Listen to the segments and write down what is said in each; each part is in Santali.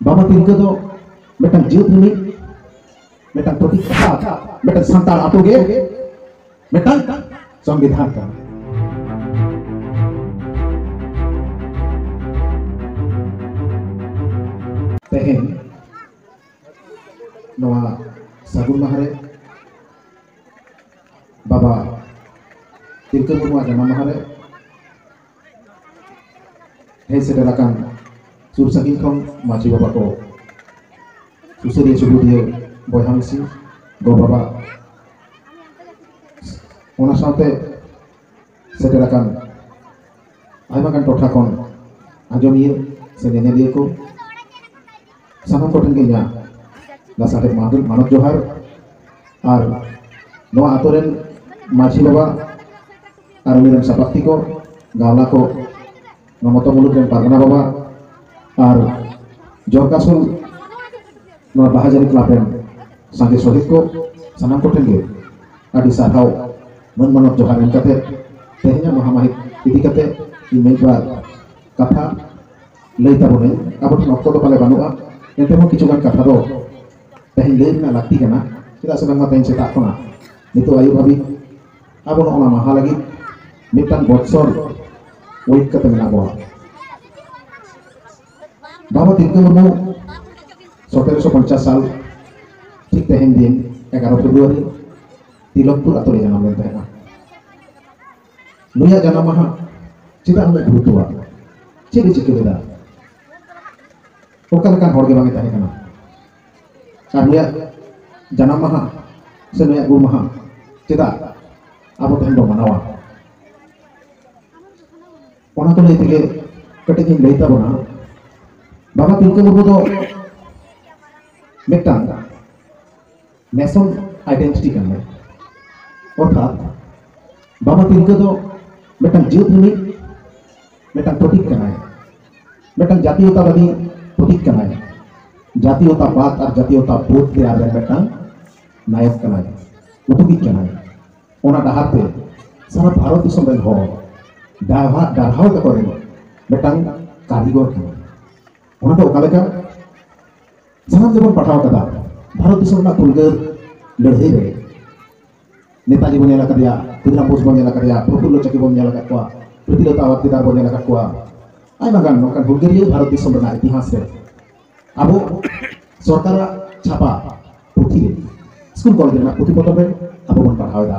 ᱵᱟᱵᱟ ᱛᱤᱞᱠᱟᱹ ᱫᱚ ᱢᱤᱫᱴᱟᱝ ᱡᱟᱹᱛ ᱨᱤᱱᱤᱡ ᱢᱤᱫᱴᱟᱝ ᱯᱨᱚᱛᱤᱠ ᱢᱤᱫᱴᱟᱝ ᱥᱟᱱᱛᱟᱲ ᱟᱛᱳ ᱜᱮ ᱢᱤᱫᱴᱟᱝ ᱥᱚᱝᱵᱤᱫᱷᱟᱱ ᱠᱟᱱᱟ ᱛᱮᱦᱮᱧ ᱱᱚᱣᱟ ᱥᱟᱹᱜᱩᱱ ᱢᱟᱦᱟ ᱨᱮ ᱵᱟᱵᱟ ᱛᱤᱞᱠᱟᱹ ᱢᱩᱨᱢᱩᱣᱟᱜ ᱡᱟᱱᱟᱢ ᱢᱟᱦᱟ ᱨᱮ ᱦᱮᱡ ᱥᱮᱴᱮᱨ ᱟᱠᱟᱱ ᱥᱩᱨ ᱥᱟᱺᱜᱤᱧ ᱠᱷᱚᱱ ᱢᱟᱹᱡᱷᱤ ᱵᱟᱵᱟ ᱠᱚ ᱥᱩᱥᱟᱹᱨᱤᱭᱟᱹ ᱥᱩᱵᱩᱫᱷᱤᱭᱟᱹ ᱵᱚᱭᱦᱟ ᱢᱤᱥᱤ ᱜᱚ ᱵᱟᱵᱟ ᱚᱱᱟ ᱥᱟᱶᱛᱮ ᱥᱮᱴᱮᱨ ᱟᱠᱟᱱ ᱟᱭᱢᱟ ᱜᱟᱱ ᱴᱚᱴᱷᱟ ᱠᱷᱚᱱ ᱟᱸᱡᱚᱢᱤᱭᱟᱹ ᱥᱮ ᱧᱮᱧᱮᱞᱤᱭᱟᱹ ᱠᱚ ᱥᱟᱱᱟᱢ ᱠᱚᱴᱷᱮᱱ ᱜᱮ ᱤᱧᱟᱹᱜ ᱞᱟᱥᱟᱲᱦᱮᱫ ᱢᱟᱱᱚᱛ ᱡᱚᱦᱟᱨ ᱟᱨ ᱱᱚᱣᱟ ᱟᱛᱳ ᱨᱮᱱ ᱢᱟᱹᱡᱷᱤ ᱵᱟᱵᱟ ᱟᱨ ᱩᱱᱤ ᱨᱮᱱ ᱥᱟᱯᱟᱛᱛᱤ ᱠᱚ ᱜᱟᱣᱞᱟ ᱠᱚ ᱱᱚᱣᱟ ᱢᱚᱛᱚ ᱢᱩᱞᱩᱠ ᱨᱮᱱ ᱯᱟᱨᱜᱟᱱᱟ ᱵᱟᱵᱟ ᱟᱨ ᱡᱚᱨᱠᱟᱥᱩᱞ ᱱᱚᱣᱟ ᱵᱟᱦᱟ ᱡᱟᱹᱨᱤ ᱠᱞᱟᱵᱽ ᱨᱮᱱ ᱥᱟᱸᱜᱮ ᱥᱚᱦᱤᱫ ᱠᱚ ᱥᱟᱱᱟᱢ ᱠᱚᱴᱷᱮᱱ ᱜᱮ ᱟᱹᱰᱤ ᱥᱟᱨᱦᱟᱣ ᱢᱟᱹᱱ ᱢᱟᱱᱚᱛ ᱡᱚᱦᱟᱨ ᱮᱢ ᱠᱟᱛᱮ ᱛᱮᱦᱮᱧᱟᱜ ᱢᱟᱦᱟ ᱢᱟᱹᱦᱤᱛ ᱤᱫᱤ ᱠᱟᱛᱮ ᱤᱧ ᱢᱤᱫ ᱵᱟᱨ ᱠᱟᱛᱷᱟ ᱞᱟᱹᱭ ᱛᱟᱵᱚᱱᱟᱹᱧ ᱟᱵᱚ ᱴᱷᱮᱱ ᱚᱠᱛᱚ ᱫᱚ ᱯᱟᱞᱮ ᱵᱟᱹᱱᱩᱜᱼᱟ ᱮᱱᱛᱮ ᱦᱚᱸ ᱠᱤᱪᱷᱩ ᱜᱟᱱ ᱠᱟᱛᱷᱟ ᱫᱚ ᱛᱮᱦᱮᱧ ᱞᱟᱹᱭ ᱨᱮᱱᱟᱜ ᱞᱟᱹᱠᱛᱤ ᱠᱟᱱᱟ ᱪᱮᱫᱟᱜ ᱥᱮ ᱵᱟᱝᱢᱟ ᱛᱮᱦᱮᱧ ᱥᱮᱛᱟᱜ ᱠᱷᱚᱱᱟᱜ ᱱᱤᱛᱚᱜ ᱟᱹᱭᱩᱵ ᱦᱟᱹᱵᱤᱡ ᱟᱵᱚ ᱱᱚᱜᱼᱚ ᱱᱟ ᱢᱟᱦᱟ ᱞᱟᱹᱜᱤᱫ ᱢᱤᱫᱴᱟᱝ ᱵᱚᱛᱥᱚᱨ ᱳᱭᱮᱴ ᱠᱟᱛᱮ ᱢᱮᱱᱟᱜ ᱵᱚᱱᱟ ᱵᱟᱵᱟ ᱛᱤᱞᱠᱟᱹ ᱢᱩᱨᱢᱩ ᱥᱚᱛᱮᱨᱚᱥᱚ ᱯᱚᱧᱪᱟᱥ ᱥᱟᱞ ᱴᱷᱤᱠ ᱛᱮᱦᱮᱧ ᱫᱤᱱ ᱮᱜᱟᱨᱚ ᱯᱷᱮᱵᱽᱨᱩᱣᱟᱨᱤ ᱛᱤᱞᱚᱠᱯᱩᱨ ᱟᱛᱳ ᱨᱮ ᱡᱟᱱᱟᱢ ᱞᱮᱱ ᱛᱟᱦᱮᱸᱫᱼᱟ ᱱᱩᱭᱟᱜ ᱡᱟᱱᱟᱢ ᱢᱟᱦᱟ ᱪᱮᱫᱟᱜ ᱩᱱᱟᱹᱜ ᱜᱩᱨᱩᱛᱛᱚᱣᱟ ᱪᱮᱫ ᱮ ᱪᱤᱠᱟᱹ ᱞᱮᱫᱟ ᱚᱠᱟ ᱞᱮᱠᱟᱱ ᱦᱚᱲ ᱜᱮ ᱵᱟᱝ ᱮ ᱛᱟᱦᱮᱸ ᱠᱟᱱᱟ ᱟᱨ ᱱᱩᱭᱟᱜ ᱡᱟᱱᱟᱢ ᱢᱟᱦᱟ ᱥᱮ ᱱᱩᱭᱟᱜ ᱜᱩᱨ ᱢᱟᱦᱟ ᱪᱮᱫᱟᱜ ᱟᱵᱚ ᱛᱮᱦᱮᱧ ᱵᱚ ᱢᱟᱱᱟᱣᱟ ᱚᱱᱟ ᱠᱚ ᱞᱟᱹᱭ ᱛᱮᱜᱮ ᱠᱟᱹᱴᱤᱡ ᱤᱧ ᱞᱟᱹᱭ ᱛᱟᱵᱚᱱᱟ ᱵᱟᱵᱟ ᱛᱤᱞᱠᱟᱹ ᱢᱩᱨᱢᱩ ᱫᱚ ᱢᱤᱫᱴᱟᱝ ᱱᱮᱥᱚᱱ ᱟᱭᱰᱮᱱᱴᱤᱴᱤ ᱠᱟᱱᱟ ᱚᱨᱛᱷᱟᱛ ᱵᱟᱵᱟ ᱛᱤᱞᱠᱟᱹ ᱫᱚ ᱢᱤᱫᱴᱟᱝ ᱡᱟᱹᱛ ᱨᱤᱱᱤᱡ ᱢᱤᱫᱴᱟᱝ ᱯᱨᱚᱛᱤᱠ ᱠᱟᱱᱟᱭ ᱢᱤᱫᱴᱟᱝ ᱡᱟᱛᱤᱭᱚᱛᱟᱵᱟᱫᱤ ᱯᱨᱚᱛᱤᱠ ᱠᱟᱱᱟᱭ ᱡᱟᱛᱤᱭᱚᱛᱟᱵᱟᱫ ᱟᱨ ᱡᱟᱛᱤᱭᱚᱛᱟ ᱵᱳᱫ ᱛᱮᱭᱟᱨ ᱨᱮ ᱢᱤᱫᱴᱟᱝ ᱱᱟᱭᱚᱠ ᱠᱟᱱᱟᱭ ᱩᱫᱩᱜᱤᱡ ᱠᱟᱱᱟᱭ ᱚᱱᱟ ᱰᱟᱦᱟᱨ ᱛᱮ ᱥᱟᱨᱟ ᱵᱷᱟᱨᱚᱛ ᱫᱤᱥᱚᱢ ᱨᱮᱱ ᱦᱚᱲ ᱰᱟᱨᱦᱟ ᱰᱟᱨᱦᱟᱣ ᱛᱟᱠᱚ ᱨᱮᱱ ᱢᱤᱫᱴᱟᱝ ᱠᱟᱹᱨᱤᱜᱚᱨ ᱠᱟᱱᱟᱭ ᱚᱱᱟ ᱫᱚ ᱚᱠᱟ ᱞᱮᱠᱟ ᱡᱟᱦᱟᱸ ᱜᱮᱵᱚᱱ ᱯᱟᱲᱦᱟᱣ ᱠᱟᱫᱟ ᱵᱷᱟᱨᱚᱛ ᱫᱤᱥᱚᱢ ᱨᱮᱱᱟᱜ ᱯᱷᱩᱨᱜᱟᱹᱞ ᱞᱟᱹᱲᱦᱟᱹᱭ ᱨᱮ ᱱᱮᱛᱟᱡᱤ ᱵᱚᱱ ᱧᱮᱞ ᱟᱠᱟᱫᱮᱭᱟ ᱠᱷᱩᱫᱤᱨᱟᱢ ᱵᱳᱥ ᱵᱚᱱ ᱧᱮᱞ ᱟᱠᱟᱫᱮᱭᱟ ᱯᱨᱚᱯᱷᱩᱞᱞᱚ ᱪᱚᱠᱤ ᱵᱚᱱ ᱧᱮᱞ ᱟᱠᱟᱫ ᱠᱚᱣᱟ ᱯᱨᱤᱛᱤᱞᱚᱛᱟ ᱟᱣᱟᱨᱛᱤᱫᱟᱨ ᱵᱚᱱ ᱧᱮᱞ ᱟᱠᱟᱫ ᱠᱚᱣᱟ ᱟᱭᱢᱟ ᱜᱟᱱ ᱱᱚᱝᱠᱟᱱ ᱦᱩᱞᱜᱟᱹᱨᱤᱭᱟᱹ ᱵᱷᱟᱨᱚᱛ ᱫᱤᱥᱚᱢ ᱨᱮᱱᱟᱜ ᱤᱛᱤᱦᱟᱥ ᱨᱮ ᱟᱵᱚ ᱥᱚᱨᱠᱟᱨᱟᱜ ᱪᱷᱟᱯᱟ ᱯᱩᱛᱷᱤ ᱨᱮ ᱥᱠᱩᱞ ᱠᱚᱞᱮᱡᱽ ᱨᱮᱱᱟᱜ ᱯᱩᱛᱷᱤ ᱯᱚᱛᱚᱵ ᱨᱮ ᱟᱵᱚ ᱵᱚᱱ ᱯᱟᱲᱦᱟᱣ ᱮᱫᱟ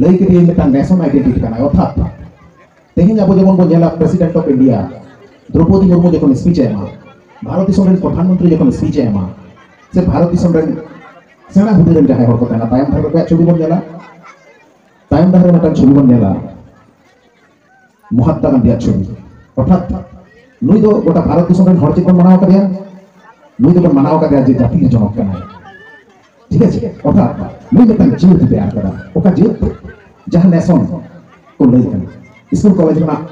ᱞᱟᱹᱭ ᱠᱮᱫᱮᱭᱟᱹᱧ ᱢᱤᱫᱴᱟᱝ ᱱᱮᱥᱚᱱ ᱟᱭᱰᱮᱱᱴᱤᱴᱤ ᱠᱟᱱᱟ ᱚᱨᱛᱷᱟᱛ ᱛᱮᱦᱮᱧ ᱟᱵᱚ ᱡᱮᱢᱚᱱ ᱵᱚᱱ ᱧᱮᱞᱟ president of India Droupadi Murmu ᱡᱚᱠᱷᱚᱱ ᱥᱯᱤᱪ ᱮ ᱮᱢᱟ ᱵᱷᱟᱨᱚᱛ ᱫᱤᱥᱚᱢ ᱨᱮᱱ ᱯᱨᱚᱫᱷᱟᱱ ᱢᱚᱱᱛᱨᱤ ᱡᱚᱠᱷᱚᱱ ᱥᱯᱤᱪ ᱮ ᱮᱢᱟ ᱥᱮ ᱵᱷᱟᱨᱚᱛ ᱫᱤᱥᱚᱢ ᱨᱮᱱ ᱥᱮᱬᱟ ᱦᱩᱫᱟᱹ ᱨᱮᱱ ᱡᱟᱦᱟᱸᱭ ᱦᱚᱲ ᱠᱚ ᱛᱟᱦᱮᱱᱟ ᱛᱟᱭᱚᱢ ᱫᱷᱟᱨᱮ ᱨᱮ ᱪᱷᱚᱵᱤ ᱵᱚᱱ ᱧᱮᱞᱟ ᱛᱟᱭᱚᱢ ᱫᱷᱟᱨᱮ ᱨᱮ ᱢᱤᱫᱴᱟᱝ ᱪᱷᱚᱵᱤ ᱵᱚᱱ ᱧᱮᱞᱟ ᱢᱚᱦᱟᱛᱢᱟ ᱜᱟᱱᱫᱷᱤᱭᱟᱜ ᱪᱷᱚᱵᱤ ᱚᱨᱛᱷᱟᱛ ᱱᱩᱭ ᱫᱚ ᱜᱚᱴᱟ ᱵᱷᱟᱨᱚᱛ ᱫᱤᱥᱚᱢ ᱨᱮᱱ ᱦᱚᱲ ᱪᱮᱫ ᱵᱚᱱ ᱢᱟᱱᱟᱣ ᱠᱟᱫᱮᱭᱟ ᱱᱩᱭ ᱫᱚᱵᱚᱱ ᱢᱟᱱᱟᱣ ᱠᱟᱫᱮᱭᱟ ᱡᱮ ᱡᱟᱹᱛᱤ ᱡᱚᱱᱚᱠ ᱠᱟᱱᱟᱭ ᱴᱷᱤᱠ ᱟᱪᱷᱮ ᱚᱨᱛᱷᱟᱛ ᱱᱩᱭ ᱢᱤᱫᱴᱟᱝ ᱡᱤᱭᱟᱹᱛ ᱛᱮᱭᱟᱨ ᱠᱟᱫᱟ ᱚᱠᱟ ᱡᱤᱭᱟᱹᱛ ᱡᱟᱦᱟᱸ ᱱᱮᱥᱚᱱ ᱠᱚ ᱞᱟᱹᱭ ᱠᱟᱱᱟ ᱥᱠᱩᱞ ᱠᱚᱞᱮᱡᱽ ᱨᱮᱱᱟᱜ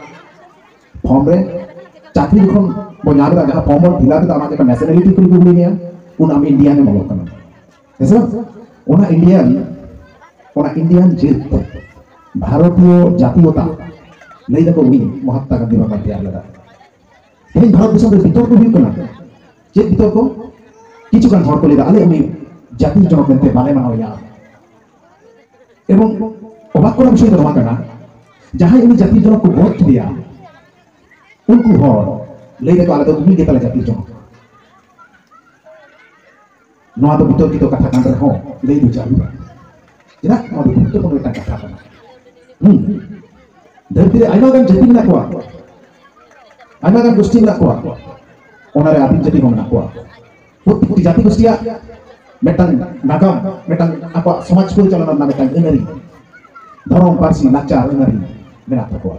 ᱯᱷᱚᱨᱢ ᱨᱮ ᱪᱟᱹᱠᱨᱤ ᱡᱚᱠᱷᱚᱱ ᱵᱚᱱ ᱧᱟᱢ ᱮᱫᱟ ᱡᱟᱦᱟᱸ ᱯᱷᱚᱨᱢ ᱵᱚᱱ ᱯᱷᱤᱞᱟᱯ ᱮᱫᱟ ᱚᱱᱟ ᱡᱚᱠᱷᱚᱱ ᱱᱮᱥᱱᱟᱞᱤᱴᱤ ᱠᱚ ᱠᱩᱞᱤ ᱢᱮᱭᱟ ᱩᱱ ᱟᱢ ᱤᱱᱰᱤᱭᱟᱱ ᱮᱢ ᱚᱞᱚᱜ ᱠᱟᱱᱟ ᱦᱮᱸᱥᱮ ᱚᱱᱟ ᱤᱱᱰᱤᱭᱟᱱ ᱚᱱᱟ ᱤᱱᱰᱤᱭᱟᱱ ᱡᱟᱹᱛ ᱵᱷᱟᱨᱚᱛᱤᱭᱚ ᱡᱟᱛᱤᱭᱚᱛᱟ ᱞᱟᱹᱭ ᱫᱟᱠᱚ ᱩᱱᱤ ᱢᱚᱦᱟᱛᱢᱟ ᱜᱟᱱᱫᱷᱤ ᱵᱟᱵᱟ ᱛᱮᱭᱟᱨ ᱞᱮᱫᱟ ᱛᱮᱦᱮᱧ ᱵᱷᱟᱨᱚᱛ ᱫᱤᱥᱚᱢ ᱨᱮ ᱵᱤᱛᱚᱨᱠᱚ ᱦᱩᱭᱩᱜ ᱠᱟᱱᱟ ᱪᱮᱫ ᱵᱤᱛᱚᱨᱠᱚ ᱠᱤᱪᱷᱩ ᱜᱟᱱ ᱦᱚᱲ ᱠᱚ ᱞᱟᱹᱭ ᱫᱟ ᱟᱞᱮ ᱩᱱᱤ ᱡᱟᱛᱤ ᱡᱚᱱᱚᱠ ᱢᱮᱱᱛᱮ ᱵᱟᱞᱮ ᱢᱟᱱᱟᱣᱮᱭᱟ ᱮᱵᱚᱝ ᱚᱵᱟᱠ ᱠᱚᱨᱟ ᱵᱤᱥᱚᱭ ᱫᱚ ᱱᱚᱣᱟ ᱠᱟᱱᱟ ᱡᱟᱦᱟᱸᱭ ᱩᱱᱤ ᱡᱟᱛᱤ ᱡᱚᱱᱚᱠ ᱠᱚ ᱜᱚᱫ ᱠᱮᱫᱮᱭᱟ ᱩᱱᱠᱩ ᱦᱚᱲ ᱞᱟᱹᱭ ᱫᱟᱠᱚ ᱟᱞᱮ ᱫᱚ ᱩᱱᱤ ᱜᱮᱛᱟᱞᱮ ᱡᱟᱛᱤ ᱡᱚᱱᱚᱠ ᱱᱚᱣᱟ ᱫᱚ ᱵᱤᱛᱚᱨᱠᱤᱛᱚ ᱠᱟᱛᱷᱟ ᱠᱟᱱ ᱨᱮᱦᱚᱸ ᱞᱟᱹᱭ ᱵᱩᱡᱷᱟᱹᱣ ᱦᱩᱭᱩᱜᱼᱟ ᱪᱮᱫᱟᱜ ᱱᱚᱣᱟ ᱫᱚ ᱜᱩᱨᱩᱛᱛᱚᱯᱩᱨᱱᱚ ᱢᱤᱫᱴᱟᱝ ᱠᱟᱛᱷᱟ ᱠᱟᱱᱟ ᱦᱩᱸ ᱫᱷᱟᱹᱨᱛᱤ ᱨᱮ ᱟᱭᱢᱟ ᱜᱟᱱ ᱡᱟᱹᱛᱤ ᱢᱮᱱᱟᱜ ᱠᱚᱣᱟ ᱟᱭᱢᱟ ᱜᱟᱱ ᱜᱳষ্ঠী ᱢᱮᱱᱟᱜ ᱠᱚᱣᱟ ᱚᱱᱟᱨᱮ ᱟᱹᱫᱤᱢ ᱡᱟᱹᱛᱤ ᱦᱚᱸ ᱢᱮᱱᱟᱜ ᱠᱚᱣᱟ ᱯᱨᱚᱛᱮᱠᱴᱤ ᱡᱟᱹᱛᱤ ᱜᱳষ্ঠীᱭᱟᱜ ᱢᱤᱫᱴᱟᱝ ᱱᱟᱜᱟᱢ ᱢᱤᱫᱴᱟᱝ ᱟᱠᱚᱣᱟᱜ ᱥᱚᱢᱟᱡᱽ ᱯᱚᱨᱤᱪᱟᱞᱚᱱᱟ ᱨᱮᱱᱟᱜ ᱢᱤᱫᱴᱟᱝ ᱟᱹᱱᱟᱹᱨᱤ ᱫᱷᱚᱨᱚᱢ ᱯᱟᱹᱨᱥᱤ ᱞᱟᱠᱪᱟᱨ ᱟᱹᱱᱟᱹᱨᱤ ᱢᱮᱱᱟᱜ ᱛᱟᱠᱚᱣᱟ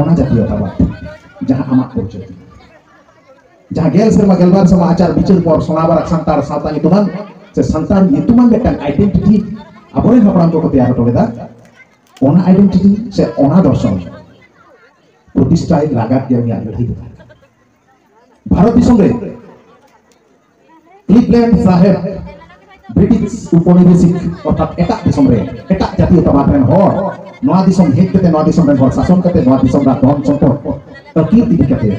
ᱚᱱᱟ ᱡᱟᱛᱤᱭᱚᱛᱟ ᱵᱟᱫ ᱡᱟᱦᱟᱸ ᱟᱢᱟᱜ ᱯᱚᱨᱤᱪᱚᱭ ᱡᱟᱦᱟᱸ ᱜᱮᱞ ᱥᱮᱨᱢᱟ ᱜᱮᱞᱵᱟᱨ ᱥᱮᱨᱢᱟ ᱟᱪᱟᱨ ᱵᱤᱪᱟᱹᱨ ᱯᱚᱨ ᱥᱚᱱᱟᱵᱟᱨ ᱥᱟᱱᱛᱟᱲ ᱥᱟᱶᱛᱟ ᱧᱩᱛᱩᱢᱟᱱ ᱥᱮ ᱥᱟᱱᱛᱟᱲ ᱧᱩᱛᱩᱢᱟᱱ ᱢᱤᱫᱴᱟᱝ ᱟᱭᱰᱮᱱᱴᱤᱴᱤ ᱟᱵᱚᱨᱮᱱ ᱦᱟᱯᱲᱟᱢ ᱠᱚᱠᱚ ᱛᱮᱭᱟᱨ ᱦᱚᱴᱚ ᱞᱮᱫᱟ ᱚᱱᱟ ᱟᱭᱰᱮᱱᱴᱤᱴᱤ ᱥᱮ ᱚᱱᱟ ᱫᱚᱨᱥᱚᱱ ᱯᱨᱚᱛᱤᱥᱴᱷᱟᱭ ᱞᱟᱜᱟᱛ ᱜᱮ ᱩᱱᱤᱭᱟᱜ ᱞᱟᱹᱲᱦᱟᱹᱭ ᱫᱚ ᱵᱷᱟᱨᱚᱛ ᱫᱤᱥᱚᱢ ᱨᱮ ᱠᱞᱤᱵᱞᱮᱱᱰ ᱥᱟᱦᱮᱵ ᱵᱨᱤᱴᱤᱥ ᱩᱯᱚᱱᱤᱵᱮᱥᱤᱠ ᱚᱨᱛᱷᱟᱛ ᱮᱴᱟᱜ ᱫᱤᱥᱚᱢ ᱨᱮ ᱮᱴᱟᱜ ᱡᱟᱛᱤᱭᱚᱛᱟᱵᱟᱫ ᱨᱮᱱ ᱦᱚᱲ ᱱᱚᱣᱟ ᱫᱤᱥᱚᱢ ᱦᱮᱡ ᱠᱟᱛᱮ ᱱᱚᱣᱟ ᱫᱤᱥᱚᱢ ᱨᱮᱱ ᱦᱚᱲ ᱥᱟᱥᱚᱱ ᱠᱟᱛᱮ ᱱᱚᱣᱟ ᱫᱤᱥᱚᱢ ᱨᱮᱱᱟᱜ ᱫᱷᱚᱱ ᱥᱚᱢᱯᱚᱫ ᱟᱹᱠᱤᱨ ᱤᱫᱤ ᱠᱟᱛᱮ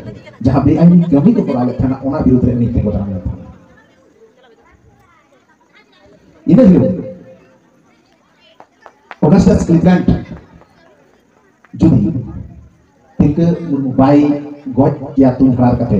ᱡᱟᱦᱟᱸ ᱵᱮᱟᱭᱤᱱ ᱠᱟᱹᱢᱤ ᱠᱚ ᱠᱚᱨᱟᱣ ᱞᱮᱫ ᱛᱟᱦᱮᱱᱟ ᱚᱱᱟ ᱵᱤᱨᱩᱫᱽ ᱨᱮ ᱩᱱᱤ ᱛᱤᱸᱜᱩ ᱫᱟᱨᱟᱢ ᱞᱮᱱ ᱛᱟᱦᱮᱱᱟ ᱤᱱᱟᱹ ᱦᱤᱞᱳᱜ ᱚᱜᱟᱥᱴᱟᱥ ᱠᱞᱤᱵᱞᱮᱱᱰ ᱡᱩᱫᱤ ᱛᱤᱞᱠᱟᱹ ᱢᱩᱨᱢᱩ ᱵᱟᱭ ᱜᱚᱡ ᱠᱮᱭᱟ ᱛᱩᱧ ᱦᱟᱨᱟᱨ ᱠᱟᱛᱮ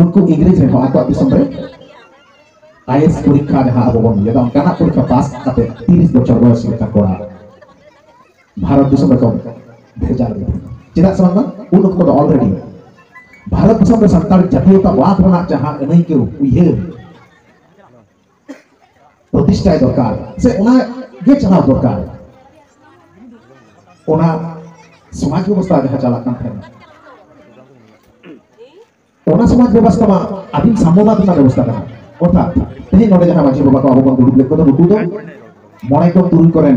ᱩᱱᱠᱩ ᱤᱝᱨᱮᱡᱽ ᱨᱮᱦᱚᱸ ᱟᱠᱚᱣᱟᱜ ᱫᱤᱥᱚᱢ ᱨᱮ ᱟᱭᱮᱥ ᱯᱚᱨᱤᱠᱷᱟ ᱡᱟᱦᱟᱸ ᱟᱵᱚ ᱵᱚᱱ ᱞᱟᱹᱭᱫᱟ ᱚᱱᱠᱟᱱᱟᱜ ᱯᱚᱨᱤᱠᱷᱟ ᱯᱟᱥ ᱠᱟᱛᱮ ᱛᱤᱨᱤᱥ ᱵᱚᱪᱷᱚᱨ ᱵᱚᱭᱚᱥ ᱞᱮᱠᱟ ᱠᱚᱲᱟ ᱵᱷᱟᱨᱚᱛ ᱫᱤᱥᱚᱢ ᱨᱮᱠᱚ ᱵᱷᱮᱡᱟ ᱞᱮᱫ ᱪᱮᱫᱟᱜ ᱥᱮ ᱵᱟᱝ ᱩᱱ ᱚᱠᱛᱚ ᱫᱚ ᱚᱞᱨᱮᱰᱤ ᱵᱷᱟᱨᱚᱛ ᱫᱤᱥᱚᱢ ᱨᱮ ᱥᱟᱱᱛᱟᱲ ᱡᱟᱹᱛᱤᱭᱚᱛᱟᱵᱟᱫ ᱨᱮᱱᱟᱜ ᱡᱟᱦᱟᱸ ᱟᱹᱱᱟᱹᱭᱠᱟᱹᱣ ᱩᱭᱦᱟᱹᱨ ᱯᱨᱚᱛᱤᱥᱴᱷᱟᱭ ᱫᱚᱨᱠᱟর ᱥᱮ ᱚᱱᱟ ᱜᱮ ᱪᱟᱞᱟᱣ ᱫᱚᱨᱠᱟর ᱚᱱᱟ ᱥᱚᱢᱟᱡᱽ ᱵᱮᱵᱚᱥᱛᱷᱟ ᱡᱟᱦᱟᱸ ᱪᱟᱞᱟᱜ ᱠᱟᱱ ᱛᱟᱦᱮᱸᱱᱟ ᱚᱱᱟ ᱥᱚᱢᱟᱡᱽ ᱵᱮᱵᱚᱥᱛᱷᱟ ᱢᱟ ᱟᱹᱫᱤᱢ ᱥᱟᱢᱚᱵᱟᱫ ᱨᱮᱱᱟᱜ ᱵᱮᱵᱚᱥᱛᱷᱟ ᱠᱟᱱᱟ ᱚᱨᱛᱷᱟᱛ ᱛᱮᱦᱮᱧ ᱱᱚᱰᱮ ᱡᱟᱦᱟᱸ ᱢᱟᱹᱡᱷᱤ ᱵᱟᱵᱟ ᱠᱚ ᱟᱵᱚ ᱵᱚᱱ ᱫᱩᱲᱩᱵ ᱞᱮᱫ ᱠᱚᱫᱚ ᱱᱩᱠᱩ ᱫᱚ ᱢᱚᱬᱮ ᱠᱚ ᱛᱩᱨᱩᱭ ᱠᱚᱨᱮᱱ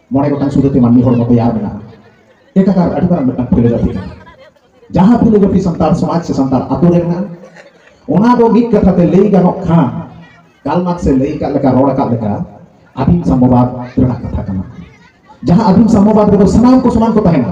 ᱢᱚᱬᱮ ᱜᱚᱴᱟᱝ ᱥᱩᱫᱷᱟᱹᱛᱮ ᱢᱟᱹᱱᱢᱤ ᱦᱚᱲᱢᱚ ᱛᱮᱭᱟᱨ ᱢᱮᱱᱟᱜᱼᱟ ᱮᱠᱟᱠᱟᱨ ᱟᱹᱰᱤ ᱢᱟᱨᱟᱝ ᱢᱤᱫᱴᱟᱝ ᱯᱷᱤᱞᱳᱡᱚᱯᱷᱤ ᱠᱟᱱᱟ ᱡᱟᱦᱟᱸ ᱯᱷᱤᱞᱳᱡᱚᱯᱷᱤ ᱥᱟᱱᱛᱟᱲ ᱥᱚᱢᱟᱡᱽ ᱥᱮ ᱥᱟᱱᱛᱟᱲ ᱟᱛᱳ ᱨᱮ ᱢᱮᱱᱟᱜᱼᱟ ᱚᱱᱟ ᱫᱚ ᱢᱤᱫ ᱠᱟᱛᱷᱟ ᱛᱮ ᱞᱟᱹᱭ ᱜᱟᱱᱚᱜ ᱠᱷᱟᱱ ᱠᱟᱞ ᱢᱟᱨᱠᱥ ᱮ ᱞᱟᱹᱭ ᱟᱠᱟᱫ ᱞᱮᱠᱟ ᱨᱚᱲ ᱟᱠᱟᱫ ᱞᱮᱠᱟ ᱟᱹᱫᱤᱢ ᱥᱟᱢᱚᱵᱟᱫ ᱨᱮᱱᱟᱜ ᱠᱟᱛᱷᱟ ᱠᱟᱱᱟ ᱡᱟᱦᱟᱸ ᱟᱹᱫᱤᱢ ᱥᱟᱢᱚᱵᱟᱫ ᱨᱮᱫᱚ ᱥᱟᱱᱟᱢ ᱠᱚ ᱥᱚᱢᱟᱱ ᱠᱚ ᱛᱟᱦᱮᱱᱟ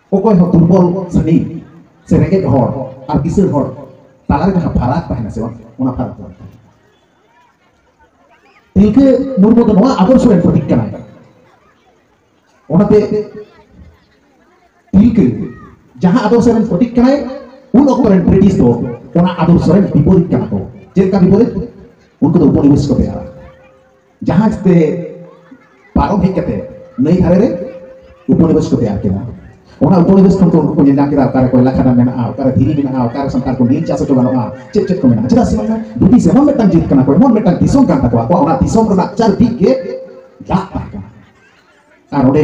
ᱚᱠᱚᱭ ᱦᱚᱸ ᱫᱩᱨᱵᱚᱞ ᱥᱟᱹᱱᱤ ᱥᱮ ᱨᱮᱸᱜᱮᱡ ᱦᱚᱲ ᱟᱨ ᱠᱤᱥᱟᱹᱬ ᱦᱚᱲ ᱛᱟᱞᱟᱨᱮ ᱡᱟᱦᱟᱸ ᱯᱷᱟᱨᱟᱠ ᱛᱟᱦᱮᱱᱟ ᱥᱮ ᱵᱟᱝ ᱚᱱᱟ ᱯᱷᱟᱨᱟᱠ ᱫᱚ ᱛᱤᱞᱠᱟᱹ ᱢᱩᱨᱢᱩ ᱫᱚ ᱱᱚᱣᱟ ᱟᱫᱚᱨᱥᱚ ᱨᱮᱱ ᱯᱨᱚᱛᱤᱠ ᱠᱟᱱᱟᱭ ᱚᱱᱟᱛᱮ ᱛᱤᱞᱠᱟᱹ ᱡᱟᱦᱟᱸ ᱟᱫᱚᱨᱥᱚ ᱨᱮᱱ ᱯᱨᱚᱛᱤᱠ ᱠᱟᱱᱟᱭ ᱩᱱ ᱚᱠᱛᱚ ᱨᱮᱱ ᱵᱨᱤᱴᱤᱥ ᱫᱚ ᱚᱱᱟ ᱟᱫᱚᱨᱥᱚ ᱨᱮᱱ ᱵᱤᱯᱚᱨᱤᱛ ᱠᱟᱱᱟ ᱠᱚ ᱪᱮᱫ ᱞᱮᱠᱟ ᱵᱤᱯᱚᱨᱤᱛ ᱩᱱᱠᱩ ᱫᱚ ᱩᱯᱚᱱᱤᱵᱮᱥ ᱠᱚ ᱵᱮᱱᱟᱣᱟ ᱡᱟᱦᱟᱡᱽ ᱛᱮ ᱯᱟᱨᱚᱢ ᱦᱮᱡ ᱠᱟᱛᱮ ᱱᱟᱹᱭ ᱫᱷᱟᱨᱮ ᱨᱮ ᱩᱯᱚᱱᱤᱵᱮᱥ ᱠᱚ ᱛᱮᱭᱟᱨ ᱠᱮᱫᱟ ᱚᱱᱟ ᱩᱯᱚᱱᱤᱵᱮᱥ ᱠᱷᱚᱱ ᱠᱚ ᱩᱱᱠᱩ ᱠᱚ ᱧᱮᱞ ᱧᱟᱢ ᱠᱮᱫᱟ ᱚᱠᱟᱨᱮ ᱠᱚᱭᱞᱟ ᱠᱷᱟᱫᱟᱱ ᱢᱮᱱᱟᱜᱼᱟ ᱚᱠᱟᱨᱮ ᱫᱷᱤᱨᱤ ᱢᱮᱱᱟᱜᱼᱟ ᱚᱠᱟᱨᱮ ᱥᱟᱱᱛᱟᱲ ᱠᱚ ᱱᱤᱞ ᱪᱟᱥ ᱦᱚᱪᱚ ᱜᱟᱱᱚᱜᱼᱟ ᱪᱮᱫ ᱪᱮᱫ ᱠᱚ ᱢᱮᱱᱟᱜᱼᱟ ᱪᱮᱫᱟᱜ ᱥᱮ ᱵᱟᱝ ᱵᱨᱤᱴᱤᱥ ᱮᱢᱚᱱ ᱢᱤᱫᱴᱟᱝ ᱡᱟᱹᱛ ᱠᱟᱱᱟ ᱠᱚ ᱮᱢᱚᱱ ᱢᱤᱫᱴᱟᱝ ᱫᱤᱥᱚᱢ ᱠᱟᱱ ᱛᱟᱠᱚᱣᱟ ᱟᱠᱚᱣᱟᱜ ᱚᱱᱟ ᱫᱤᱥᱚᱢ ᱨᱮᱱᱟᱜ ᱪᱟᱨᱫᱤᱠ ᱜᱮ ᱫᱟᱜ ᱛᱟᱦᱮᱸ ᱠᱟᱱᱟ ᱟᱨ ᱚᱸᱰᱮ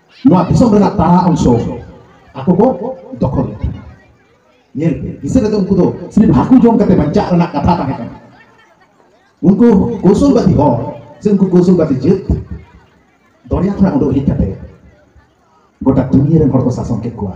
ᱱᱚᱣᱟ ᱫᱤᱥᱚᱢ ᱨᱮᱱᱟᱜ ᱛᱟᱲᱟ ᱚᱝᱥᱚ ᱟᱠᱚ ᱠᱚ ᱫᱚᱠᱷᱚᱞ ᱞᱮᱫᱟ ᱧᱮᱞ ᱯᱮ ᱫᱤᱥᱟᱹ ᱨᱮᱫᱚ ᱩᱱᱠᱩ ᱫᱚ ᱥᱤᱨᱤᱯ ᱦᱟᱹᱠᱩ ᱡᱚᱢ ᱠᱟᱛᱮ ᱵᱟᱧᱪᱟᱜ ᱨᱮᱱᱟᱜ ᱠᱟᱛᱷᱟ ᱛᱟᱦᱮᱸ ᱠᱟᱱᱟ ᱩᱱᱠᱩ ᱠᱚᱥᱩᱞᱵᱟᱫᱤ ᱦᱚᱲ ᱥᱮ ᱩᱱᱠᱩ ᱠᱚᱥᱩᱞᱵᱟᱫᱤ ᱡᱟᱹᱛ ᱫᱚᱨᱭᱟ ᱠᱷᱚᱱᱟᱜ ᱩᱰᱩᱠ ᱦᱮᱡ ᱠᱟᱛᱮ ᱜᱚᱴᱟ ᱫᱩᱱᱤᱭᱟᱹ ᱨᱮᱱ ᱦᱚᱲ ᱠᱚ ᱥᱟᱥᱚᱱ ᱠᱮᱫ ᱠᱚᱣᱟ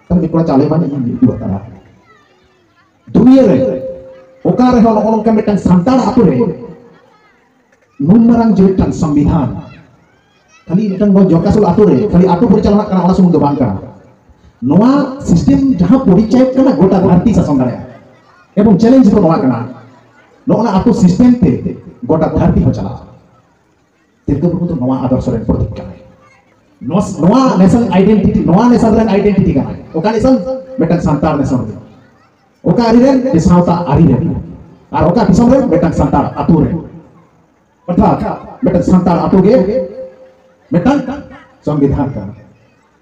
ᱛᱟᱦᱞᱮ ᱢᱤᱫ ᱠᱚᱲᱟ ᱪᱟᱣᱞᱮ ᱵᱟᱹᱱᱤᱡ ᱤᱧ ᱩᱫᱩᱜ ᱟᱠᱟᱫᱟ ᱫᱩᱱᱤᱭᱟᱹ ᱨᱮ ᱚᱠᱟ ᱨᱮᱦᱚᱸ ᱱᱚᱜᱼᱚ ᱱᱚᱝᱠᱟ ᱢᱤᱫᱴᱟᱝ ᱥᱟᱱᱛᱟᱲ ᱟᱛᱳ ᱨᱮ ᱱᱩᱱ ᱢᱟᱨᱟᱝ ᱡᱮ ᱢᱤᱫᱴᱟᱝ ᱥᱚᱝᱵᱤᱫᱷᱟᱱ ᱠᱷᱟᱹᱞᱤ ᱢᱤᱫᱴᱟᱝ ᱱᱚᱣᱟ ᱡᱚᱠᱟᱥᱚᱞ ᱟᱛᱳ ᱨᱮ ᱠᱷᱟᱹᱞᱤ ᱟᱛᱳ ᱯᱚᱨᱤᱪᱟᱞᱚᱱᱟᱜ ᱠᱟᱱᱟ ᱚᱱᱟ ᱥᱩᱢᱩᱝ ᱫᱚ ᱵᱟᱝ ᱠᱟᱱᱟ ᱱᱚᱣᱟ ᱥᱤᱥᱴᱮᱢ ᱡᱟᱦᱟᱸ ᱯᱚᱨᱤᱪᱟᱭᱚᱠ ᱠᱟᱱᱟ ᱜᱚᱴᱟ ᱫᱷᱟᱹᱨᱛᱤ ᱥᱟᱥᱚᱱ ᱫᱟᱲᱮᱭᱟᱜᱼᱟ ᱮᱵᱚᱝ ᱪᱮᱞᱮᱧᱡᱽ ᱫᱚ ᱱᱚᱣᱟ ᱠᱟᱱᱟ ᱱᱚᱜᱼᱚ ᱱᱟ ᱟᱛᱳ ᱥᱤᱥᱴᱮᱢ ᱛᱮ ᱜᱚᱴᱟ ᱫᱷᱟᱹᱨᱛᱤ ᱦᱚᱸ ᱪᱟᱞᱟᱜᱼᱟ ᱛᱤᱞᱠᱟᱹ ᱢᱩᱨᱢᱩ ᱫᱚ ᱱᱚᱣᱟ ᱟᱫᱚᱨᱥᱚ ᱨᱮᱱ ᱯᱨᱚᱛᱤᱠ ᱠᱟᱱᱟᱭ ᱱᱚᱣᱟ ᱱᱮᱥᱚᱱ ᱟᱭᱰᱮᱱᱴᱤᱴᱤ ᱱᱚᱣᱟ ᱱᱮᱥᱚᱱ ᱨᱮᱱ ᱟᱭᱰᱮᱱᱴᱤᱴᱤ ᱠᱟᱱᱟᱭ ᱚᱠᱟ ᱱᱮᱥᱚᱱ ᱢᱤᱫᱴᱟᱝ ᱥᱟᱱᱛᱟᱲ ᱱᱮᱥᱚᱱ ᱨᱮ ᱚᱠᱟ ᱟᱹᱨᱤ ᱨᱮᱱ ᱥᱟᱶᱛᱟ ᱟᱹᱨᱤ ᱨᱮᱱ ᱟᱨ ᱚᱠᱟ ᱫᱤᱥᱚᱢ ᱨᱮ ᱢᱤᱫᱴᱟᱝ ᱥᱟᱱᱛᱟᱲ ᱟᱛᱳ ᱨᱮ ᱚᱨᱛᱷᱟᱛ ᱢᱤᱫᱴᱟᱝ ᱥᱟᱱᱛᱟᱲ ᱟᱛᱳ ᱜᱮ ᱢᱤᱫᱴᱟᱝ ᱥᱚᱝᱵᱤᱫᱷᱟᱱ ᱠᱟᱱᱟ